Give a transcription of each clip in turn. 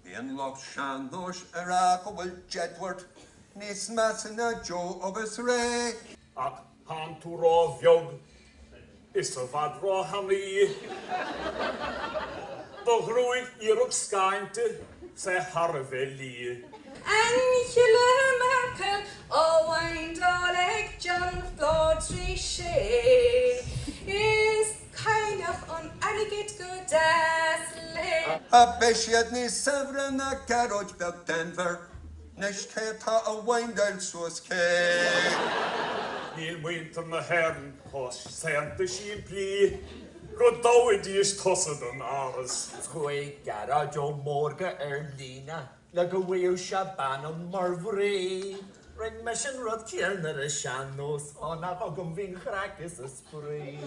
Bíonn lucht sean-nóis ag rá go bhfuil Jedward níos measa ná Joe agus Ray. Ach tánn tú ró bheag is i bhfad ró thanaí do ghruaig iarracht scáinte. is í thar a bheith liath. Angela Merkel á weindeáil ag John Phádraig Sé is cailleach an airgid go deas léi. Ach beidh siad níos saibhre ná Gearóid beag Denvir anois cé atá a weindeáil suas cé? Níl muintir na hÉireann chomh saonta simplí. Go dtoghfaidís tusa don Áras. Chuaigh Gearóid Ó Mórdha ar líne le go bhfaigheadh sé bean ann mar mhnaoi. Rinne mise an rud céanna ar an sean-nós, ó nach agam a bhí an chraic is an spraoi.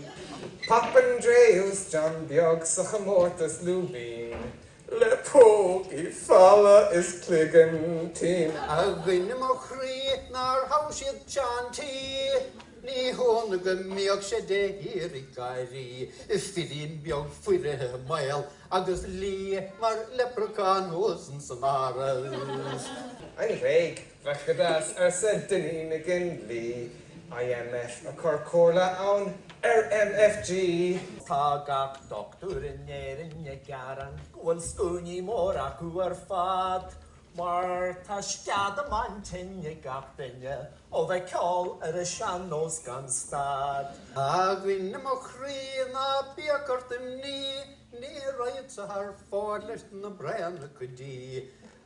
Papandreou is John Beag sa chomórtas Lúibín. Le pócaí folmha is cloigeann tinn. A dhuine mo chroí nár thogh siad Seán T. Ní hionadh go mbíodh sé de shíor ag gáirí, Firín beag foirfe maol agus liath mar leipreachán thuas insan Áras. An Ghréig. Bhfeicfidís, arsa Dinny McGinley, IMF, ag cur comhairle ann ar MFG. Tá gach doctúir in Éirinn ag gearán go bhfuil scuainí móra acu ar fad mar tá sceadamán tinn ag gach duine ó bheith ag ceol ar an sean-nós gan stad. A dhuine mo chroí ná bíodh ort imní, ní raghad-sa thar fóir leis na braonacha dí.